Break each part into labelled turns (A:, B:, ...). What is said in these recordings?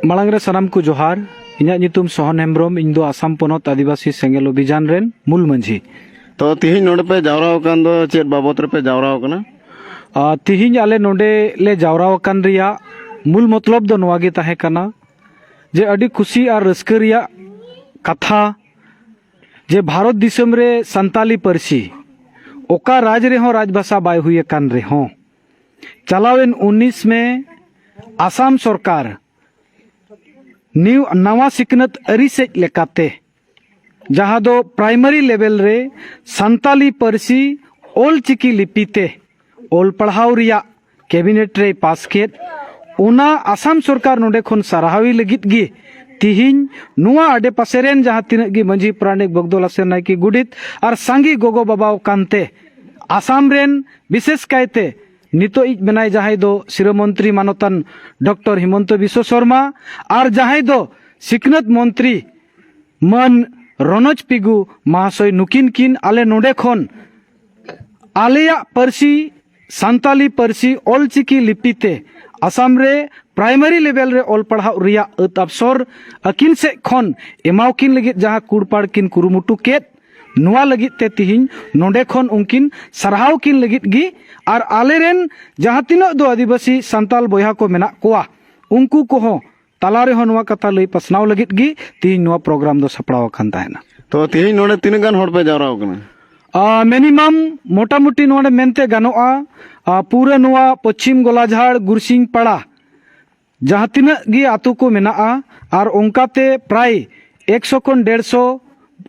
A: ᱢᱟᱲᱟᱝ ᱨᱮ ᱥᱟᱱᱟᱢ ᱠᱚ ᱡᱚᱦᱟᱨ ᱤᱧᱟᱹᱜ ᱧᱩᱛᱩᱢ ᱥᱚᱦᱚᱱ ᱦᱮᱢᱵᱨᱚᱢ ᱤᱧ ᱫᱚ ᱟᱥᱟᱢ ᱯᱚᱱᱚᱛ ᱟᱹᱫᱤᱵᱟᱹᱥᱤ ᱥᱮᱸᱜᱮᱞ ᱚᱵᱷᱤᱡᱟᱱ ᱨᱮᱱ ᱢᱩᱞ ᱢᱟᱺᱡᱷᱤ ᱛᱚ ᱛᱤᱦᱤᱧ ᱱᱚᱰᱮ ᱯᱮ ᱡᱟᱣᱨᱟ ᱟᱠᱟᱱ ᱫᱚ ᱪᱮᱫ ᱵᱟᱵᱚᱛ ᱨᱮᱯᱮ ᱡᱟᱣᱨᱟ ᱟᱠᱟᱱᱟ ᱛᱤᱦᱤᱧ ᱟᱞᱮ ᱱᱚᱰᱮ ᱞᱮ ᱡᱟᱣᱨᱟ ᱟᱠᱟᱱ ᱨᱮᱭᱟᱜ ᱢᱩᱞ ᱢᱚᱛᱞᱚᱵ ᱫᱚ ᱱᱚᱣᱟ ᱜᱮ ᱛᱟᱦᱮᱸ ᱠᱟᱱᱟ ᱡᱮ ᱟᱹᱰᱤ ᱠᱩᱥᱤ ᱟᱨ ᱨᱟᱹᱥᱠᱟᱹ ᱨᱮᱭᱟᱜ ᱠᱟᱛᱷᱟ ᱡᱮ ᱵᱷᱟᱨᱚᱛ ᱫᱤᱥᱚᱢ ᱨᱮ ᱥᱟᱱᱛᱟᱞᱤ ᱯᱟᱹᱨᱥᱤ ᱚᱠᱟ ᱨᱟᱡᱽ ᱨᱮᱦᱚᱸ ᱨᱟᱡᱽ ᱵᱷᱟᱥᱟ ᱵᱟᱭ ᱦᱩᱭ ᱟᱠᱟᱱ ᱨᱮᱦᱚᱸ ᱪᱟᱞᱟᱣᱮᱱ ᱩᱱᱤᱥ ᱢᱮ ᱟᱥᱟᱢ ᱥᱚᱨᱠᱟᱨ ᱱᱤᱭᱩ ᱱᱟᱣᱟ ᱥᱤᱠᱷᱱᱟᱹᱛ ᱟᱹᱨᱤ ᱥᱮᱡ ᱞᱮᱠᱟᱛᱮ ᱡᱟᱦᱟᱸ ᱫᱚ ᱯᱨᱟᱭᱢᱟᱨᱤ ᱞᱮᱵᱮᱞ ᱨᱮ ᱥᱟᱱᱛᱟᱞᱤ ᱯᱟᱹᱨᱥᱤ ᱚᱞ ᱪᱤᱠᱤ ᱞᱤᱯᱤ ᱛᱮ ᱚᱞ ᱯᱟᱲᱦᱟᱣ ᱨᱮᱭᱟᱜ ᱠᱮᱵᱤᱱᱮᱴ ᱨᱮᱭ ᱯᱟᱥ ᱠᱮᱫ ᱚᱱᱟ ᱟᱥᱟᱢ ᱥᱚᱨᱠᱟᱨ ᱱᱚᱰᱮ ᱠᱷᱚᱱ ᱥᱟᱨᱦᱟᱣᱤ ᱞᱟᱹᱜᱤᱫ ᱜᱮ ᱛᱤᱦᱤᱧ ᱱᱚᱣᱟ ᱟᱰᱮ ᱯᱟᱥᱮ ᱨᱮᱱ ᱡᱟᱦᱟᱸ ᱛᱤᱱᱟᱹᱜ ᱜᱮ ᱢᱟᱹᱡᱷᱤ ᱯᱟᱨᱟᱱᱤᱠ ᱵᱚᱜᱫᱚᱞ ᱟᱥᱮᱨ ᱱᱟᱭᱠᱮ ᱜᱩᱰᱤᱛ ᱟᱨ ᱥᱟᱸᱜᱮ ᱜᱚᱜᱚ ᱵᱟᱵᱟᱣ ᱠᱟᱱᱛᱮ ᱟᱥᱟᱢ ᱨᱮᱱ ᱵᱤᱥᱮᱥ ᱠᱟᱭᱛᱮ ᱱᱤᱛᱚᱜ ᱤᱡ ᱢᱮᱱᱟᱭ ᱡᱟᱦᱟᱸᱭ ᱫᱚ ᱥᱤᱨᱟᱹ ᱢᱚᱱᱛᱨᱤ ᱢᱟᱱᱚᱛᱟᱱ ᱰᱚᱠᱴᱚᱨ ᱦᱤᱢᱚᱱᱛᱚ ᱵᱤᱥᱣᱚ ᱥᱚᱨᱢᱟ ᱟᱨ ᱡᱟᱦᱟᱸᱭ ᱫᱚ ᱥᱤᱠᱷᱱᱟᱹᱛ ᱢᱚᱱᱛᱨᱤ ᱢᱟᱹᱱ ᱨᱚᱱᱚᱡᱽ ᱯᱤᱜᱩ ᱢᱟᱦᱟᱥᱚᱭ ᱱᱩᱠᱤᱱ ᱠᱤᱱ ᱟᱞᱮ ᱱᱚᱰᱮ ᱠᱷᱚᱱ ᱟᱞᱮᱭᱟᱜ ᱯᱟᱹᱨᱥᱤ ᱥᱟᱱᱛᱟᱞᱤ ᱯᱟᱹᱨᱥᱤ ᱚᱞᱪᱤᱠᱤ ᱞᱤᱯᱤ ᱛᱮ ᱟᱥᱟᱢ ᱨᱮ ᱯᱨᱟᱭᱢᱟᱨᱤ ᱞᱮᱵᱮᱞ ᱨᱮ ᱚᱞ ᱯᱟᱲᱦᱟᱣ ᱨᱮᱭᱟᱜ ᱟᱹᱛ ᱟᱵᱥᱚᱨ ᱟᱹᱠᱤᱱ ᱥᱮᱫ ᱠᱷᱚᱱ ᱮᱢᱟᱣᱠᱤᱱ ᱞᱟᱹᱜᱤᱫ ᱡᱟᱦᱟᱸ ᱠᱩᱲᱯᱟᱲ ᱠᱤᱱ ᱠᱩᱨᱩᱢᱩᱴᱩ ᱠᱮᱫ ᱱᱚᱣᱟ ᱞᱟᱹᱜᱤᱫ ᱛᱮ ᱛᱤᱦᱤᱧ ᱱᱚᱰᱮ ᱠᱷᱚᱱ ᱩᱱᱠᱤᱱ ᱥᱟᱨᱦᱟᱣ ᱠᱤᱱ ᱞᱟᱹᱜᱤᱫ ᱜᱮ ᱟᱨ ᱟᱞᱮᱨᱮᱱ ᱡᱟᱦᱟᱸ ᱛᱤᱱᱟᱹᱜ ᱫᱚ ᱟᱹᱫᱤᱵᱟᱹᱥᱤ ᱥᱟᱱᱛᱟᱞ ᱵᱚᱭᱦᱟ ᱠᱚ ᱢᱮᱱᱟᱜ ᱠᱚᱣᱟ ᱩᱱᱠᱩ ᱠᱚᱦᱚᱸ ᱛᱟᱞᱟ ᱨᱮᱦᱚᱸ ᱱᱚᱣᱟ ᱠᱟᱛᱷᱟ ᱞᱟᱹᱭ ᱯᱟᱥᱱᱟᱣ ᱞᱟᱹᱜᱤᱫ ᱜᱮ ᱛᱤᱦᱤᱧ ᱱᱚᱣᱟ ᱯᱨᱳᱜᱨᱟᱢ ᱫᱚ ᱥᱟᱯᱲᱟᱣ ᱟᱠᱟᱱ ᱛᱟᱦᱮᱱᱟ ᱛᱚ ᱛᱮᱦᱮᱧ ᱱᱚᱰᱮ ᱛᱤᱱᱟᱹᱜ ᱜᱟᱱ ᱦᱚᱲ ᱯᱮ ᱡᱟᱣᱨᱟ ᱟᱠᱟᱱᱟ ᱢᱤᱱᱤᱢᱟᱢ ᱢᱚᱴᱟᱢᱩᱴᱤ ᱱᱚᱰᱮ ᱢᱮᱱᱛᱮ ᱜᱟᱱᱚᱜᱼᱟ ᱯᱩᱨᱟᱹ ᱱᱚᱣᱟ ᱯᱚᱪᱷᱤᱢ ᱜᱚᱞᱟᱡᱷᱟᱲ ᱜᱩᱨᱥᱤᱝ ᱯᱟᱲᱟ ᱡᱟᱦᱟᱸ ᱛᱤᱱᱟᱹᱜ ᱜᱮ ᱟᱛᱳ ᱠᱚ ᱢᱮᱱᱟᱜᱼᱟ ᱟᱨ ᱚᱱᱠᱟᱛᱮ ᱯᱨᱟᱭ ᱮᱠᱥᱚ ᱠᱷᱚᱱ ᱰᱮᱲᱥᱚ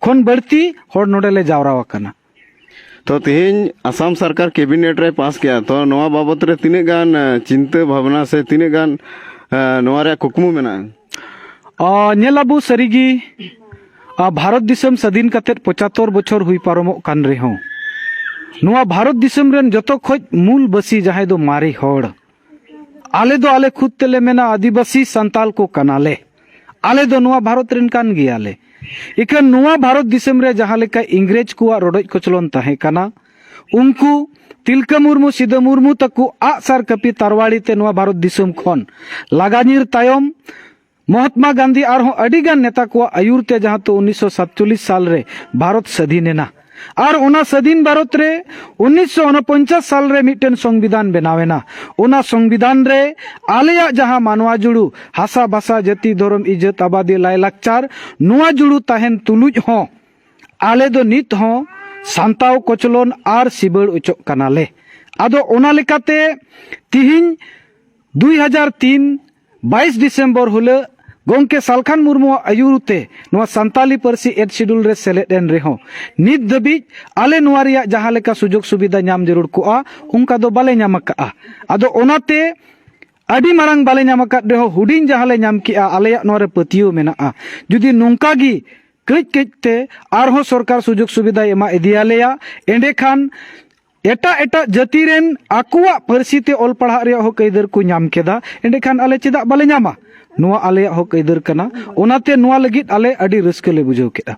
A: ᱠᱷᱚᱱ ᱵᱟᱹᱲᱛᱤ ᱦᱚᱲ ᱱᱚᱰᱮ ᱞᱮ ᱡᱟᱣᱨᱟ ᱟᱠᱟᱱᱟ ᱛᱚ ᱛᱮᱦᱮᱧ ᱟᱥᱟᱢ ᱥᱚᱨᱠᱟᱨ ᱠᱮᱵᱤᱱᱮᱴ ᱨᱮ ᱯᱟᱥ ᱠᱮᱜᱼᱟ ᱛᱚ ᱱᱚᱣᱟ ᱵᱟᱵᱚᱛ ᱨᱮ ᱛᱤᱱᱟᱹᱜ ᱜᱟᱱ ᱪᱤᱱᱛᱟᱹ ᱵᱷᱟᱵᱽᱱᱟ ᱥᱮ ᱛᱤᱱᱟᱹᱜ ᱜᱟᱱ ᱱᱚᱣᱟ ᱨᱮᱭᱟᱜ ᱠᱩᱠᱢᱩ ᱢᱮᱱᱟᱜᱼᱟ ᱧᱮᱞ ᱟᱵᱚ ᱥᱟᱹᱨᱤᱜᱮ ᱵᱷᱟᱨᱚᱛ ᱫᱤᱥᱚᱢ ᱥᱟᱹᱫᱷᱤᱱ ᱠᱟᱛᱮ ᱯᱚᱸᱪᱟᱛᱚᱨ ᱵᱚᱪᱷᱚᱨ ᱦᱩᱭ ᱯᱟᱨᱚᱢᱚᱜ ᱠᱟᱱ ᱨᱮᱦᱚᱸ ᱱᱚᱣᱟ ᱵᱷᱟᱨᱚᱛ ᱫᱤᱥᱚᱢ ᱨᱮᱱ ᱡᱚᱛᱚ ᱠᱷᱚᱡ ᱢᱩᱞ ᱵᱟᱹᱥᱤ ᱡᱟᱦᱟᱸᱭ ᱫᱚ ᱢᱟᱨᱮ ᱦᱚᱲ ᱟᱞᱮ ᱫᱚ ᱟᱞᱮ ᱠᱷᱩᱫ ᱛᱮᱞᱮ ᱢᱮᱱᱟ ᱟᱹᱫᱤᱵᱟᱹᱥᱤ ᱥᱟᱱᱛᱟᱞ ᱠᱚ ᱠᱟᱱᱟᱞᱮ ᱟᱞᱮ ᱫᱚ ᱱᱚᱣᱟ ᱵᱷᱟᱨᱚᱛ ᱨᱮᱱ ᱠᱟᱱ ᱜᱮᱭᱟᱞᱮ ᱤᱠᱷᱟᱹᱱ ᱱᱚᱣᱟ ᱵᱷᱟᱨᱚᱛ ᱫᱤᱥᱚᱢ ᱨᱮ ᱡᱟᱦᱟᱸ ᱞᱮᱠᱟ ᱤᱝᱨᱮᱡᱽ ᱠᱚᱣᱟᱜ ᱨᱚᱰᱚᱡ ᱠᱚᱪᱞᱚᱱ ᱛᱟᱦᱮᱸ ᱠᱟᱱᱟ ᱩᱱᱠᱩ ᱛᱤᱞᱠᱟᱹ ᱢᱩᱨᱢᱩ ᱥᱤᱫᱟᱹ ᱢᱩᱨᱢᱩ ᱛᱟᱠᱚ ᱟᱜ ᱥᱟᱨ ᱠᱟᱹᱯᱤ ᱛᱟᱨᱣᱟᱲᱤ ᱛᱮ ᱱᱚᱣᱟ ᱵᱷᱟᱨᱚᱛ ᱫᱤᱥᱚᱢ ᱠᱷᱚᱱ ᱞᱟᱜᱟ ᱧᱤᱨ ᱛᱟᱭᱚᱢ ᱢᱚᱦᱟᱛᱢᱟ ᱜᱟᱱᱫᱷᱤ ᱟᱨᱦᱚᱸ ᱟᱹᱰᱤ ᱜᱟᱱ ᱱᱮᱛᱟ ᱠᱚᱣᱟᱜ ᱟᱹᱭᱩᱨ ᱛᱮ ᱡᱟᱦᱟᱸ ᱛᱚ ᱩᱱᱤᱥᱥᱚ ᱥᱟᱛᱪᱚᱞᱞᱤᱥ ᱥᱟᱞ ᱨᱮ ᱵᱷᱟᱨᱚᱛ ᱥᱟᱹᱫᱷᱤᱱ ᱮᱱᱟ ᱟᱨ ᱚᱱᱟ ᱥᱟᱹᱫᱷᱤᱱ ᱵᱷᱟᱨᱚᱛ ᱨᱮ ᱩᱱᱤᱥᱥᱚ ᱩᱱᱯᱚᱧᱪᱟᱥ ᱥᱟᱞ ᱨᱮ ᱢᱤᱫᱴᱮᱱ ᱥᱚᱝᱵᱤᱫᱷᱟᱱ ᱵᱮᱱᱟᱣ ᱮᱱᱟ ᱚᱱᱟ ᱥᱚᱝᱵᱤᱫᱷᱟᱱ ᱨᱮ ᱟᱞᱮᱭᱟᱜ ᱡᱟᱦᱟᱸ ᱢᱟᱱᱣᱟ ᱡᱩᱲᱩ ᱦᱟᱥᱟ ᱵᱷᱟᱥᱟ ᱡᱟᱹᱛᱤ ᱫᱷᱚᱨᱚᱢ ᱤᱡᱟᱹᱛ ᱟᱵᱟᱫᱤ ᱞᱟᱭᱞᱟᱠᱪᱟᱨ ᱱᱚᱣᱟ ᱡᱩᱲᱩ ᱛᱟᱦᱮᱱ ᱛᱩᱞᱩᱡ ᱦᱚᱸ ᱟᱞᱮ ᱫᱚ ᱱᱤᱛ ᱦᱚᱸ ᱥᱟᱱᱛᱟᱣ ᱠᱚᱪᱞᱚᱱ ᱟᱨ ᱥᱤᱵᱟᱹᱲ ᱚᱪᱚᱜ ᱠᱟᱱᱟᱞᱮ ᱟᱫᱚ ᱚᱱᱟ ᱞᱮᱠᱟᱛᱮ ᱛᱤᱦᱤᱧ ᱫᱩᱭ ᱦᱟᱡᱟᱨ ᱛᱤᱱ ᱵᱟᱭᱤᱥ ᱰᱤᱥᱮᱢᱵᱚᱨ ᱦᱤᱞᱳᱜ ᱜᱚᱢᱠᱮ ᱥᱟᱞᱠᱷᱟᱱ ᱢᱩᱨᱢᱩᱣᱟᱜ ᱟᱹᱭᱩᱨ ᱛᱮ ᱱᱚᱣᱟ ᱥᱟᱱᱛᱟᱞᱤ ᱯᱟᱹᱨᱥᱤ ᱮᱰ ᱥᱤᱰᱩᱞ ᱨᱮ ᱥᱮᱞᱮᱫ ᱮᱱ ᱨᱮᱦᱚᱸ ᱱᱤᱛ ᱫᱷᱟᱹᱵᱤᱡ ᱟᱞᱮ ᱱᱚᱣᱟ ᱨᱮᱭᱟᱜ ᱡᱟᱦᱟᱸ ᱞᱮᱠᱟ ᱥᱩᱡᱳᱜᱽ ᱥᱩᱵᱤᱫᱷᱟ ᱧᱟᱢ ᱡᱟᱹᱨᱩᱲ ᱠᱚᱜᱼᱟ ᱚᱱᱠᱟ ᱫᱚ ᱵᱟᱞᱮ ᱧᱟᱢ ᱟᱠᱟᱫᱼᱟ ᱟᱫᱚ ᱚᱱᱟᱛᱮ ᱟᱹᱰᱤ ᱢᱟᱨᱟᱝ ᱵᱟᱞᱮ ᱧᱟᱢ ᱟᱠᱟᱫ ᱨᱮᱦᱚᱸ ᱦᱩᱰᱤᱧ ᱡᱟᱦᱟᱸ ᱞᱮ ᱧᱟᱢ ᱠᱮᱜᱼᱟ ᱟᱞᱮᱭᱟᱜ ᱱᱚᱣᱟ ᱨᱮ ᱯᱟᱹᱛᱭᱟᱹᱣ ᱢᱮᱱᱟᱜᱼᱟ ᱡᱩᱫᱤ ᱱᱚᱝᱠᱟ ᱜᱮ ᱠᱟᱹᱡ ᱠᱟᱹᱡ ᱛᱮ ᱟᱨᱦᱚᱸ ᱥᱚᱨᱠᱟᱨ ᱥᱩᱡᱳᱜᱽ ᱥᱩᱵᱤᱫᱷᱟᱭ ᱮᱢᱟ ᱤᱫᱤᱭᱟᱞᱮᱭᱟ ᱮᱸᱰᱮᱠᱷᱟᱱ ᱮᱴᱟᱜ ᱮᱴᱟᱜ ᱡᱟᱹᱛᱤ ᱨᱮᱱ ᱟᱠᱚᱣᱟᱜ ᱯᱟᱹᱨᱥᱤ ᱛᱮ ᱚᱞ ᱯᱟᱲᱦᱟᱜ ᱨᱮᱭᱟᱜ ᱦᱚᱸ ᱟᱹᱭᱫᱟᱹᱨ ᱠᱚ ᱧᱟᱢ ᱠᱮᱫᱟ ᱮᱸᱰᱮᱠᱷᱟᱱ ᱟᱞᱮ ᱪᱮᱫᱟᱜ ᱵᱟᱞᱮ ᱧᱟᱢᱟ ᱱᱚᱣᱟ ᱟᱞᱮᱭᱟᱜ ᱦᱚᱸ ᱟᱹᱭᱫᱟᱹᱨ ᱠᱟᱱᱟ ᱚᱱᱟᱛᱮ ᱱᱚᱣᱟ ᱞᱟᱹᱜᱤᱫ ᱟᱞᱮ ᱟᱹᱰᱤ ᱨᱟᱹᱥᱠᱟᱹ ᱞᱮ ᱵᱩᱡᱷᱟᱹᱣ ᱠᱮᱫᱼᱟ